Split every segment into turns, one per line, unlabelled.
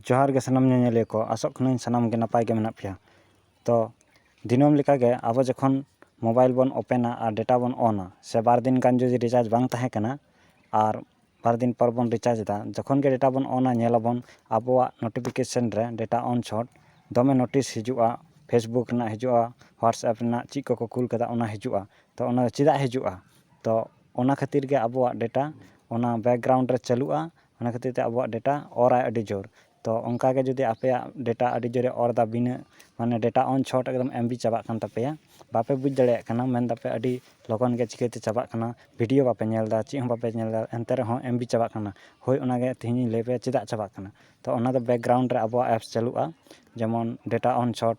ᱡᱚᱦᱟᱨ ᱜᱮ ᱥᱟᱱᱟᱢ ᱧᱮᱧᱮᱞᱤᱭᱟᱹ ᱠᱚ ᱟᱥᱚᱜ ᱠᱟᱹᱱᱟᱹᱧ ᱥᱟᱱᱟᱢ ᱜᱮ ᱱᱟᱯᱟᱭ ᱜᱮ ᱢᱮᱱᱟᱜ ᱯᱮᱭᱟ ᱛᱚ ᱫᱤᱱᱟᱹᱢ ᱞᱮᱠᱟ ᱜᱮ ᱟᱵᱚ ᱡᱚᱠᱷᱚᱱ ᱢᱳᱵᱟᱭᱤᱞ ᱵᱚᱱ ᱳᱯᱮᱱᱟ ᱟᱨ ᱰᱮᱴᱟ ᱵᱚᱱ ᱚᱱᱟ ᱥᱮ ᱵᱟᱨ ᱫᱤᱱ ᱜᱟᱱ ᱡᱩᱫᱤ ᱨᱤᱪᱟᱨᱡᱽ ᱵᱟᱝ ᱛᱟᱦᱮᱸ ᱠᱟᱱᱟ ᱟᱨ ᱵᱟᱨ ᱫᱤᱱ ᱯᱚᱨ ᱵᱚᱱ ᱨᱤᱪᱟᱨᱡᱽ ᱮᱫᱟ ᱡᱚᱠᱷᱚᱱ ᱜᱮ ᱰᱮᱴᱟ ᱵᱚᱱ ᱚᱱᱟ ᱧᱮᱞ ᱟᱵᱚᱱ ᱟᱵᱚᱣᱟᱜ ᱱᱳᱴᱤᱯᱷᱤᱠᱮᱥᱮᱱ ᱨᱮ ᱰᱮᱴᱟ ᱚᱱ ᱪᱷᱚᱴ ᱫᱚᱢᱮ ᱱᱳᱴᱤᱥ ᱦᱤᱡᱩᱜᱼᱟ ᱯᱷᱮᱥᱵᱩᱠ ᱨᱮᱱᱟᱜ ᱦᱤᱡᱩᱜᱼᱟ ᱦᱳᱣᱟᱴᱥᱮᱯ ᱨᱮᱱᱟᱜ ᱪᱮᱫ ᱠᱚᱠᱚ ᱠᱩᱞ ᱠᱟᱫᱟ ᱚᱱᱟ ᱦᱤᱡᱩᱜᱼᱟ ᱛᱚ ᱚᱱᱟ ᱫᱚ ᱪᱮᱫᱟᱜ ᱦᱤᱡᱩᱜᱼᱟ ᱛᱚ ᱚᱱᱟ ᱠᱷᱟᱹᱛᱤᱨ ᱜᱮ ᱟᱵᱚᱣᱟᱜ ᱰᱮᱴᱟ ᱚᱱᱟ ᱵᱮᱠᱜᱨᱟᱣᱩᱱᱰ ᱨᱮ ᱪᱟᱹᱞᱩᱜᱼᱟ ᱚᱱᱟ ᱠᱷᱟᱹᱛᱤᱨ ᱛᱮ ᱟᱵᱚᱣᱟᱜ ᱰᱮᱴᱟ ᱚᱨ ᱟᱭ ᱟᱹᱰᱤ ᱡᱳᱨ ᱛᱚ ᱚᱱᱠᱟ ᱜᱮ ᱡᱩᱫᱤ ᱟᱯᱮᱭᱟᱜ ᱰᱮᱴᱟ ᱟᱹᱰᱤ ᱡᱳᱨᱮ ᱚᱨ ᱮᱫᱟ ᱵᱤᱱᱟᱹ ᱢᱟᱱᱮ ᱰᱮᱴᱟ ᱚᱱ ᱪᱷᱚᱴ ᱮᱠᱫᱚᱢ ᱮᱢᱵᱤ ᱪᱟᱵᱟᱜ ᱠᱟᱱ ᱛᱟᱯᱮᱭᱟ ᱵᱟᱯᱮ ᱵᱩᱡᱽ ᱫᱟᱲᱮᱭᱟᱜ ᱠᱟᱱᱟ ᱢᱮᱱ ᱮᱫᱟᱯᱮ ᱟᱹᱰᱤ ᱞᱚᱜᱚᱱ ᱜᱮ ᱪᱤᱠᱟᱹᱛᱮ ᱪᱟᱵᱟᱜ ᱠᱟᱱᱟ ᱵᱷᱤᱰᱭᱳ ᱵᱟᱯᱮ ᱧᱮᱞ ᱮᱫᱟ ᱪᱮᱫ ᱦᱚᱸ ᱵᱟᱯᱮ ᱧᱮᱞ ᱮᱫᱟ ᱮᱱᱛᱮ ᱨᱮᱦᱚᱸ ᱮᱢᱵᱤ ᱪᱟᱵᱟᱜ ᱠᱟᱱᱟ ᱦᱳᱭ ᱚᱱᱟ ᱜᱮ ᱛᱮᱦᱮᱧ ᱤᱧ ᱞᱟᱹᱭ ᱟᱯᱮᱭᱟ ᱪᱮᱫᱟᱜ ᱪᱟᱵᱟᱜ ᱠᱟᱱᱟ ᱛᱚ ᱚᱱᱟ ᱫᱚ ᱵᱮᱠᱜᱨᱟᱣᱩᱱᱰ ᱨᱮ ᱟᱵᱚᱣᱟᱜ ᱮᱯᱥ ᱪᱟᱹᱞᱩᱜᱼᱟ ᱡᱮᱢᱚᱱ ᱰᱮᱴᱟ ᱚᱱ ᱪᱷᱚᱴ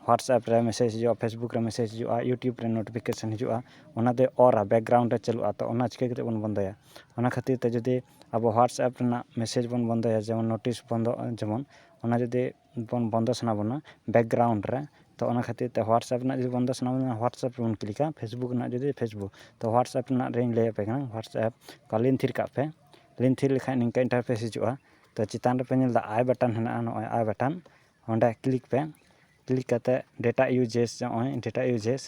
ᱦᱳᱣᱟᱴᱥᱮᱯ ᱨᱮ ᱢᱮᱥᱮᱡᱽ ᱦᱤᱡᱩᱜᱼᱟ ᱯᱷᱮᱥᱵᱩᱠ ᱨᱮ ᱢᱮᱥᱮᱡᱽ ᱦᱤᱡᱩᱜᱼᱟ ᱤᱭᱩᱴᱩᱵᱽ ᱨᱮ ᱱᱳᱴᱤᱯᱷᱤᱠᱮᱥᱚᱱ ᱦᱤᱡᱩᱜᱼᱟ ᱚᱱᱟᱛᱮ ᱚᱨᱟ ᱵᱮᱠᱜᱨᱟᱣᱩᱱᱰ ᱨᱮ ᱪᱟᱹᱞᱩᱜᱼᱟ ᱛᱚ ᱚᱱᱟ ᱪᱤᱠᱟᱹ ᱠᱟᱛᱮᱫ ᱵᱚᱱ ᱵᱚᱱᱫᱚᱭᱟ ᱚᱱᱟ ᱠᱷᱟᱹᱛᱤᱨ ᱛᱮ ᱡᱩᱫᱤ ᱟᱵᱚ ᱦᱳᱣᱟᱴᱥᱮᱯ ᱨᱮᱱᱟᱜ ᱢᱮᱥᱮᱡᱽ ᱵᱚᱱ ᱵᱚᱱᱫᱚᱭᱟ ᱡᱮᱢᱚᱱ ᱱᱳᱴᱤᱥ ᱵᱚᱱᱫᱚᱜ ᱡᱮᱢᱚᱱ ᱚᱱᱟ ᱡᱩᱫᱤ ᱵᱚᱱ ᱵᱚᱱᱫᱚ ᱥᱟᱱᱟ ᱵᱚᱱᱟ ᱵᱮᱠᱜᱨᱟᱣᱩᱱᱰ ᱨᱮ ᱛᱚ ᱚᱱᱟ ᱠᱷᱟᱹᱛᱤᱨ ᱛᱮ ᱦᱳᱣᱟᱴᱥᱮᱯ ᱨᱮᱱᱟᱜ ᱡᱩᱫᱤ ᱵᱚᱱᱫᱚ ᱥᱟᱱᱟ ᱵᱚᱱᱟ ᱦᱳᱣᱟᱴᱥᱮᱯ ᱨᱮᱵᱚᱱ ᱠᱞᱤᱠᱟ ᱯᱷᱮᱥᱵᱩᱠ ᱨᱮᱱᱟᱜ ᱡᱩᱫᱤ ᱯᱷᱮᱥᱵᱩᱠ ᱛᱚ ᱦᱳᱣᱟᱴᱥᱮᱯ ᱨᱮᱱᱟᱜ ᱨᱤᱧ ᱞᱟᱹᱭᱟᱯᱮ ᱠᱟᱱᱟ ᱦᱳᱣᱟᱴᱥᱮᱯ ᱚᱠᱟ ᱞᱤᱱ ᱛᱷᱤᱨ ᱠᱟᱜ ᱯᱮ ᱞᱤᱱ ᱛᱷᱤᱨ ᱞᱮᱠᱷᱟᱱ ᱱᱤᱝᱠᱟᱹ ᱤᱱᱴᱟᱨᱯᱷᱮᱥ ᱦᱤᱡᱩᱜᱼᱟ ᱛᱚ ᱪᱮᱛᱟᱱ ᱨᱮᱯᱮ ᱧᱮᱞᱫᱟ ᱟᱭ ᱵᱟᱴᱚᱱ ᱦᱮᱱᱟᱜᱼᱟ ᱱᱚᱜᱼᱚᱭ ᱟᱭ ᱵᱟᱴᱚᱱ ᱚᱸᱰᱮ ᱠᱞᱤᱠ ᱯᱮ ᱠᱞᱤᱠ ᱠᱟᱛᱮᱫ ᱰᱮᱴᱟ ᱤᱭᱩᱡᱮᱥ ᱱᱚᱜᱼᱚᱭ ᱰᱮᱴᱟ ᱤᱭᱩᱡᱮᱥ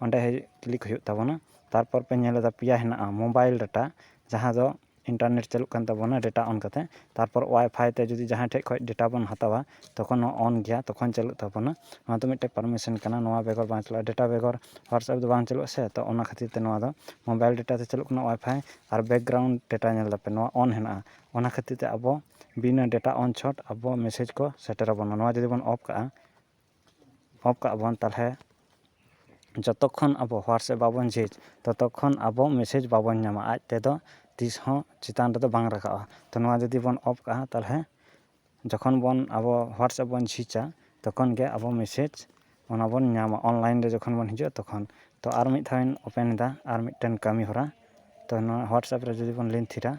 ᱚᱸᱰᱮ ᱠᱞᱤᱠ ᱦᱩᱭᱩᱜ ᱛᱟᱵᱚᱱᱟ ᱛᱟᱨᱯᱚᱨ ᱯᱮ ᱧᱮᱞ ᱮᱫᱟ ᱯᱮᱭᱟ ᱦᱮᱱᱟᱜᱼᱟ ᱢᱳᱵᱟᱭᱤᱞ ᱰᱟᱴᱟ ᱡᱟᱦᱟᱸ ᱫᱚ ᱤᱱᱴᱟᱨᱱᱮᱴ ᱪᱟᱹᱞᱩᱜ ᱠᱟᱱ ᱛᱟᱵᱚᱱᱟ ᱰᱮᱴᱟ ᱚᱱ ᱠᱟᱛᱮᱫ ᱛᱟᱨᱯᱚᱨ ᱚᱣᱟᱭ ᱯᱷᱟᱭ ᱛᱮ ᱡᱩᱫᱤ ᱡᱟᱦᱟᱸᱭ ᱴᱷᱮᱱ ᱠᱷᱚᱱ ᱰᱮᱴᱟ ᱵᱚᱱ ᱦᱟᱛᱟᱣᱟ ᱛᱚᱠᱷᱚᱱ ᱦᱚᱸ ᱚᱱ ᱜᱮᱭᱟ ᱛᱚᱠᱷᱚᱱ ᱪᱟᱹᱞᱩᱜ ᱛᱟᱵᱚᱱᱟ ᱱᱚᱣᱟ ᱫᱚ ᱢᱤᱫᱴᱮᱱ ᱯᱟᱨᱢᱤᱥᱮᱱ ᱠᱟᱱᱟ ᱱᱚᱣᱟ ᱵᱮᱜᱚᱨ ᱵᱟᱝ ᱪᱟᱞᱟᱜᱼᱟ ᱰᱮᱴᱟ ᱵᱮᱜᱚᱨ ᱦᱳᱣᱟᱴᱥᱮᱯ ᱫᱚ ᱵᱟᱝ ᱪᱟᱹᱞᱩᱜᱼᱟ ᱥᱮ ᱛᱳ ᱚᱱᱟ ᱠᱷᱟᱹᱛᱤᱨ ᱛᱮ ᱱᱚᱣᱟ ᱫᱚ ᱢᱳᱵᱟᱭᱤᱞ ᱰᱮᱴᱟ ᱫᱚ ᱪᱟᱹᱞᱩᱜ ᱠᱟᱱᱟ ᱚᱣᱟᱭ ᱯᱷᱟᱭ ᱟᱨ ᱵᱮᱠᱜᱨᱟᱣᱩᱱᱰ ᱰᱮᱴᱟ ᱧᱮᱞ ᱮᱫᱟᱯᱮ ᱱᱚᱣᱟ ᱚᱱ ᱦᱮᱱᱟᱜᱼᱟ ᱚᱱᱟ ᱠᱷᱟᱹᱛᱤᱨ ᱛᱮ ᱟᱵᱚ ᱵᱤᱱᱟᱹ ᱰᱮᱴᱟ ᱚᱱ ᱪᱷᱚᱴ ᱟᱵᱚ ᱢᱮᱥᱮᱡᱽ ᱠᱚ ᱥᱮᱴᱮᱨ ᱟᱵᱚᱱᱟ ᱱᱚᱣᱟ ᱡᱩᱫᱤ ᱵᱚᱱ ᱚᱯᱷ ᱠᱟᱜᱼᱟ ᱚᱯᱷ ᱠᱟᱜᱼᱟ ᱵᱚᱱ ᱛᱟᱦᱚᱞᱮ ᱡᱚᱛᱚ ᱠᱷᱚᱱ ᱟᱵᱚ ᱦᱳᱣᱟᱴᱥᱮᱯ ᱵᱟᱵᱚᱱ ᱡᱷᱤᱡᱽ ᱛᱚᱛᱚ ᱠᱷᱚᱱ ᱟᱵᱚ ᱢᱮᱥᱮᱡᱽ ᱵᱟᱵᱚᱱ ᱧᱟᱢᱟ ᱟᱡ ᱛᱮᱫᱚ ᱛᱤᱥ ᱦᱚᱸ ᱪᱮᱛᱟᱱ ᱨᱮᱫᱚ ᱵᱟᱝ ᱨᱟᱠᱟᱵᱼᱟ ᱛᱚ ᱱᱚᱣᱟ ᱡᱩᱫᱤ ᱵᱚᱱ ᱚᱯᱷ ᱠᱟᱜᱼᱟ ᱛᱟᱦᱚᱞᱮ ᱡᱚᱠᱷᱚᱱ ᱵᱚᱱ ᱟᱵᱚ ᱦᱳᱣᱟᱴᱥᱮᱯ ᱵᱚᱱ ᱡᱷᱤᱡᱟ ᱛᱚᱠᱷᱚᱱ ᱜᱮ ᱟᱵᱚ ᱢᱮᱥᱮᱡᱽ ᱚᱱᱟ ᱵᱚᱱ ᱧᱟᱢᱟ ᱚᱱᱞᱟᱭᱤᱱ ᱨᱮ ᱡᱚᱠᱷᱚᱱ ᱵᱚᱱ ᱦᱤᱡᱩᱜᱼᱟ ᱛᱚᱠᱷᱚᱱ ᱛᱚ ᱟᱨ ᱢᱤᱫ ᱫᱷᱟᱣᱤᱧ ᱳᱯᱮᱱ ᱮᱫᱟ ᱟᱨ ᱢᱤᱫᱴᱮᱱ ᱠᱟᱹᱢᱤ ᱦᱚᱨᱟ ᱛᱚ ᱱᱚᱣᱟ ᱦᱳᱣᱟᱴᱥᱮᱯ ᱨᱮ ᱡᱩᱫᱤ ᱵᱚᱱ ᱞᱤᱝᱠ ᱛᱷᱤᱨᱟ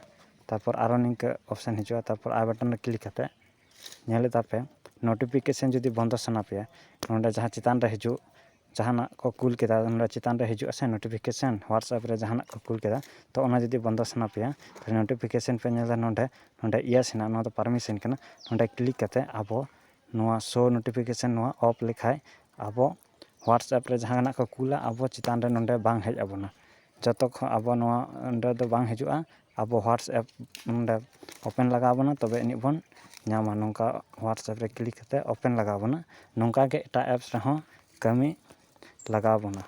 ᱛᱟᱨᱯᱚᱨ ᱟᱨᱚ ᱱᱤᱝᱠᱟᱹ ᱚᱯᱷᱥᱮᱱ ᱦᱤᱡᱩᱜᱼᱟ ᱛᱟᱨᱯᱚᱨ ᱟᱭ ᱵᱟᱴᱚᱱ ᱨᱮ ᱠᱞᱤᱠ ᱠᱟᱛᱮᱫ ᱧᱮᱞ ᱮᱫᱟ ᱯᱮ ᱱᱳᱴᱤᱯᱷᱤᱠᱮᱥᱮᱱ ᱡᱩᱫᱤ ᱵᱚᱱᱫᱚ ᱥᱟᱱᱟ ᱯᱮᱭᱟ ᱱᱚᱰᱮ ᱡᱟᱦᱟᱸ ᱪᱮᱛᱟᱱ ᱨᱮ ᱦᱤᱡᱩᱜ ᱡᱟᱦᱟᱱᱟᱜ ᱠᱚ ᱠᱩᱞ ᱠᱮᱫᱟ ᱱᱚᱰᱮ ᱪᱮᱛᱟᱱ ᱨᱮ ᱦᱤᱡᱩᱜ ᱟᱥᱮ ᱱᱳᱴᱤᱯᱷᱤᱠᱮᱥᱮᱱ ᱦᱳᱣᱟᱴᱥᱮᱯ ᱨᱮ ᱡᱟᱦᱟᱱᱟᱜ ᱠᱚ ᱠᱩᱞ ᱠᱮᱫᱟ ᱛᱚ ᱚᱱᱟ ᱡᱩᱫᱤ ᱵᱚᱱᱫᱚ ᱥᱟᱱᱟ ᱯᱮᱭᱟ ᱱᱳᱴᱤᱯᱷᱤᱠᱮᱥᱮᱱ ᱯᱮ ᱧᱮᱞ ᱮᱫᱟ ᱱᱚᱰᱮ ᱱᱚᱰᱮ ᱤᱭᱮᱥ ᱦᱮᱱᱟᱜᱼᱟ ᱱᱚᱣᱟ ᱫᱚ ᱯᱟᱨᱢᱤᱥᱮᱱ ᱠᱟᱱᱟ ᱱᱚᱰᱮ ᱠᱞᱤᱠ ᱠᱟᱛᱮᱫ ᱟᱵᱚ ᱱᱚᱣᱟ ᱥᱳ ᱱᱳᱴᱤᱯᱷᱤᱠᱮᱥᱚᱱ ᱱᱚᱣᱟ ᱚᱯᱷ ᱞᱮᱠᱷᱟᱡ ᱟᱵᱚ ᱦᱳᱣᱟᱴᱥᱮᱯ ᱨᱮ ᱡᱟᱦᱟᱱᱟᱜ ᱠᱚ ᱠᱩᱞᱟ ᱟᱵᱚ ᱪᱮᱛᱟᱱ ᱨᱮ ᱱᱚᱰᱮ ᱵᱟᱝ ᱦᱮᱡ ᱟᱵᱚᱱᱟ ᱡᱚᱛᱚ ᱠᱷᱚᱡ ᱟᱵᱚ ᱱᱚᱣᱟ ᱚᱸᱰᱮ ᱫᱚ ᱵᱟᱝ ᱦᱤᱡᱩᱜᱼᱟ ᱟᱵᱚ ᱦᱳᱣᱟᱴᱥᱮᱯ ᱱᱚᱰᱮ ᱳᱯᱮᱱ ᱞᱟᱜᱟᱣ ᱵᱚᱱᱟ ᱛᱚᱵᱮ ᱟᱹᱱᱤᱡ ᱵᱚᱱ ᱧᱟᱢᱟ ᱱᱚᱝᱠᱟ ᱦᱳᱣᱟᱴᱥᱮᱯ ᱨᱮ ᱠᱞᱤᱠ ᱠᱟᱛᱮᱫ ᱳᱯᱮᱱ ᱞᱟᱜᱟᱣ ᱵᱚᱱᱟ ᱱᱚᱝᱠᱟ ᱜᱮ ᱮᱴᱟᱜ ᱮᱯᱥ ᱨᱮᱦᱚᱸ ᱠᱟᱹᱢᱤ ᱞᱟᱜᱟᱣ ᱵᱚᱱᱟ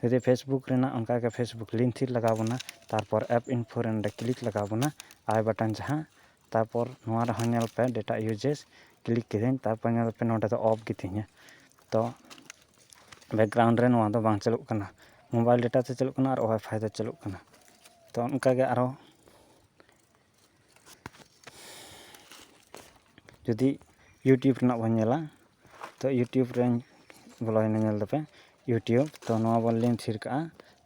ᱡᱩᱫᱤ ᱯᱷᱮᱥᱵᱩᱠ ᱨᱮᱱᱟᱜ ᱚᱱᱠᱟ ᱜᱮ ᱯᱷᱮᱥᱵᱩᱠ ᱞᱤᱝᱠ ᱴᱷᱤᱠ ᱞᱟᱜᱟᱣ ᱵᱚᱱᱟ ᱛᱟᱨᱯᱚᱨ ᱮᱯ ᱤᱱᱯᱷᱳ ᱨᱮ ᱱᱚᱰᱮ ᱠᱞᱤᱠ ᱞᱟᱜᱟᱣ ᱵᱚᱱᱟ ᱟᱭ ᱵᱟᱴᱚᱱ ᱡᱟᱦᱟᱸ ᱛᱟᱨᱯᱚᱨ ᱱᱚᱣᱟ ᱨᱮᱦᱚᱸ ᱧᱮᱞ ᱯᱮ ᱰᱮᱴᱟ ᱤᱭᱩᱡᱮᱥ ᱠᱞᱤᱠ ᱠᱤᱫᱟᱹᱧ ᱛᱟᱨᱯᱚᱨ ᱧᱮᱞ ᱯᱮ ᱱᱚᱰᱮ ᱫᱚ ᱚᱯᱷ ᱜᱮᱛᱤᱧᱟ ᱛᱚ ᱵᱮᱠᱜᱨᱟᱣᱩᱱᱰ ᱨᱮ ᱱᱚᱣᱟ ᱫᱚ ᱵᱟᱝ ᱪᱟᱹᱞᱩᱜ ᱠᱟᱱᱟ ᱢᱳᱵᱟᱭᱤᱞ ᱰᱮᱴᱟ ᱛᱮ ᱪᱟᱹᱞᱩᱜ ᱠᱟᱱᱟ ᱟᱨ ᱚᱣᱟᱭᱯᱷᱟᱭ ᱛᱮ ᱪᱟᱹᱞᱩᱜ ᱠᱟᱱᱟ ᱛᱚ ᱚᱱᱠᱟᱜᱮ ᱟᱨᱚ ᱡᱩᱫᱤ ᱤᱭᱩᱴᱩᱵᱽ ᱨᱮᱱᱟᱜ ᱵᱚᱱ ᱧᱮᱞᱟ ᱛᱚ ᱤᱭᱩᱴᱩᱵᱽ ᱨᱮ ᱵᱚᱞᱚᱭᱮᱱᱟ ᱧᱮᱞ ᱫᱟᱯᱮ ᱤᱭᱩᱴᱩᱵᱽ ᱛᱚ ᱱᱚᱣᱟ ᱵᱚᱱ ᱞᱤᱝᱠ ᱛᱷᱤᱨ ᱠᱟᱜᱼᱟ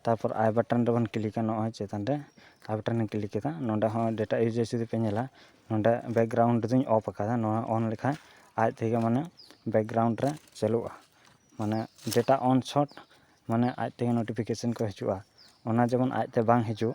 ᱛᱟᱨᱯᱚᱨ ᱟᱭ ᱵᱟᱴᱚᱱ ᱨᱮᱵᱚᱱ ᱠᱞᱤᱠᱟ ᱱᱚᱜᱼᱚᱭ ᱪᱮᱛᱟᱱ ᱨᱮ ᱟᱭ ᱵᱟᱴᱚᱱ ᱨᱤᱧ ᱠᱞᱤᱠ ᱠᱮᱫᱟ ᱱᱚᱰᱮ ᱦᱚᱸ ᱰᱮᱴᱟ ᱤᱭᱩᱡᱮᱡᱽ ᱡᱩᱫᱤ ᱯᱮ ᱧᱮᱞᱟ ᱱᱚᱰᱮ ᱵᱮᱠᱜᱨᱟᱣᱩᱱᱰ ᱫᱚᱧ ᱚᱯᱷ ᱠᱟᱫᱟ ᱱᱚᱣᱟ ᱚᱱ ᱞᱮᱠᱷᱟᱡ ᱟᱡ ᱛᱮᱜᱮ ᱢᱟᱱᱮ ᱵᱮᱠᱜᱨᱟᱣᱩᱱᱰ ᱨᱮ ᱪᱟᱹᱞᱩᱜᱼᱟ ᱢᱟᱱᱮ ᱰᱮᱴᱟ ᱚᱱ ᱥᱚᱴ ᱢᱟᱱᱮ ᱟᱡ ᱛᱮᱜᱮ ᱱᱳᱴᱤᱯᱷᱤᱠᱮᱥᱮᱱ ᱠᱚ ᱦᱤᱡᱩᱜᱼᱟ ᱚᱱᱟ ᱡᱮᱢᱚᱱ ᱟᱡᱛᱮ ᱵᱟᱝ ᱦᱤᱡᱩᱜ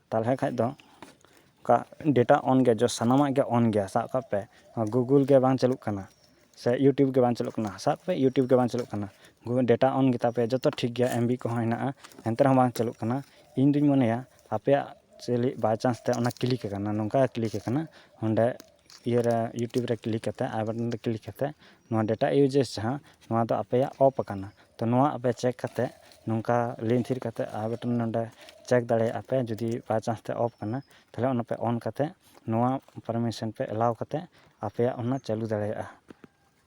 ᱛᱟᱦᱚᱞᱮ ᱠᱷᱟᱱ ᱫᱚ ᱚᱱᱠᱟ ᱰᱮᱴᱟ ᱚᱱ ᱜᱮᱭᱟ ᱡᱚ ᱥᱟᱱᱟᱢᱟᱜ ᱜᱮ ᱚᱱ ᱜᱮᱭᱟ ᱥᱟᱵ ᱠᱟᱜ ᱯᱮ ᱜᱩᱜᱩᱞ ᱜᱮ ᱵᱟᱝ ᱪᱟᱹᱞᱩᱜ ᱠᱟᱱᱟ ᱥᱮ ᱤᱭᱩᱴᱩᱵᱽ ᱜᱮ ᱵᱟᱝ ᱪᱟᱹᱞᱩᱜ ᱠᱟᱱᱟ ᱥᱟᱵ ᱠᱟᱜ ᱯᱮ ᱤᱭᱩᱴᱩᱵᱽ ᱜᱮ ᱵᱟᱝ ᱪᱟᱹᱞᱩᱜ ᱠᱟᱱᱟ ᱜᱩᱜᱩᱞ ᱰᱮᱴᱟ ᱚᱱ ᱜᱮᱛᱟ ᱯᱮᱭᱟ ᱡᱚᱛᱚ ᱴᱷᱤᱠ ᱜᱮᱭᱟ ᱮᱢᱵᱤ ᱠᱚᱦᱚᱸ ᱦᱮᱱᱟᱜᱼᱟ ᱮᱱᱛᱮ ᱨᱮᱦᱚᱸ ᱵᱟᱝ ᱪᱟᱹᱞᱩᱜ ᱠᱟᱱᱟ ᱤᱧ ᱫᱩᱧ ᱢᱚᱱᱮᱭᱟ ᱟᱯᱮᱭᱟᱜ ᱪᱮᱫ ᱞᱟᱹᱜᱤᱫ ᱵᱟᱭᱪᱟᱱᱥ ᱛᱮ ᱚᱱᱟ ᱠᱞᱤᱠ ᱟᱠᱟᱱᱟ ᱱᱚᱝᱠᱟ ᱠᱞᱤᱠ ᱟᱠᱟᱱᱟ ᱚᱸᱰᱮ ᱤᱭᱟᱹᱨᱮ ᱤᱭᱩᱴᱩᱵᱽ ᱨᱮ ᱠᱞᱤᱠ ᱠᱟᱛᱮᱫ ᱟᱭ ᱵᱟᱴᱚᱱ ᱨᱮ ᱠᱞᱤᱠ ᱠᱟᱛᱮᱫ ᱱᱚᱣᱟ ᱰᱮᱴᱟ ᱤᱭᱩᱡᱮᱥ ᱡᱟᱦᱟᱸ ᱱᱚᱣᱟ ᱫᱚ ᱟᱯᱮᱭᱟᱜ ᱚᱯᱷ ᱟᱠᱟᱱᱟ ᱛᱚ ᱱᱚᱣᱟ ᱟᱯᱮ ᱪᱮᱠ ᱠᱟᱛᱮᱫ ᱱᱚᱝᱠᱟ ᱞᱤᱱ ᱛᱷᱤᱨ ᱠᱟᱛᱮᱫ ᱟᱭ ᱵᱟᱴᱚᱱ ᱱᱚᱰᱮ ᱪᱮᱠ ᱫᱟᱲᱮᱭᱟᱜᱼᱟ ᱯᱮ ᱡᱩᱫᱤ ᱵᱟᱭ ᱪᱟᱱᱥ ᱛᱮ ᱚᱯᱷ ᱠᱟᱱᱟ ᱛᱟᱦᱚᱞᱮ ᱚᱱᱟ ᱯᱮ ᱚᱱ ᱠᱟᱛᱮᱫ ᱱᱚᱣᱟ ᱯᱟᱨᱢᱤᱥᱮᱱ ᱯᱮ ᱮᱞᱟᱣ ᱠᱟᱛᱮᱫ ᱟᱯᱮᱭᱟᱜ ᱚᱱᱟ ᱪᱟᱹᱞᱩ ᱫᱟᱲᱮᱭᱟᱜᱼᱟ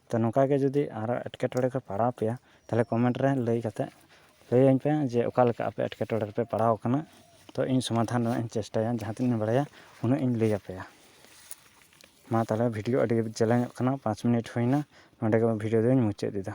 ᱛᱚ ᱱᱚᱝᱠᱟ ᱜᱮ ᱡᱩᱫᱤ ᱟᱨᱚ ᱮᱴᱠᱮᱴᱚᱬᱮ ᱠᱚ ᱯᱟᱲᱟᱣ ᱟᱯᱮᱭᱟ ᱛᱟᱦᱚᱞᱮ ᱠᱚᱢᱮᱱᱴ ᱨᱮ ᱞᱟᱹᱭ ᱠᱟᱛᱮᱫ ᱞᱟᱹᱭᱟᱹᱧ ᱯᱮ ᱡᱮ ᱚᱠᱟ ᱞᱮᱠᱟ ᱟᱯᱮ ᱮᱴᱠᱮᱴᱚᱬᱮ ᱨᱮᱯᱮ ᱯᱟᱲᱟᱣ ᱠᱟᱱᱟ ᱛᱚ ᱤᱧ ᱥᱚᱢᱟᱫᱷᱟᱱ ᱨᱮᱱᱟᱜ ᱤᱧ ᱪᱮᱥᱴᱟᱭᱟ ᱡᱟᱦᱟᱸ ᱛᱤᱱᱟᱹᱜ ᱤᱧ ᱵᱟᱲᱟᱭᱟ ᱩᱱᱟᱹᱜ ᱤᱧ ᱞᱟᱹᱭ ᱟᱯᱮᱭᱟ ᱢᱟ ᱛᱟᱦᱚᱞᱮ ᱵᱷᱤᱰᱤᱭᱳ ᱟᱹᱰᱤ ᱡᱮᱞᱮᱧᱚᱜ ᱠᱟᱱᱟ ᱯᱟᱸᱪ ᱢᱤᱱᱤᱴ ᱦᱩᱭᱱᱟ ᱱᱚᱰᱮ ᱜᱮ ᱵᱷᱤᱰᱤᱭᱳ ᱫᱚᱧ ᱢᱩᱪᱟᱹᱫ ᱮᱫᱟ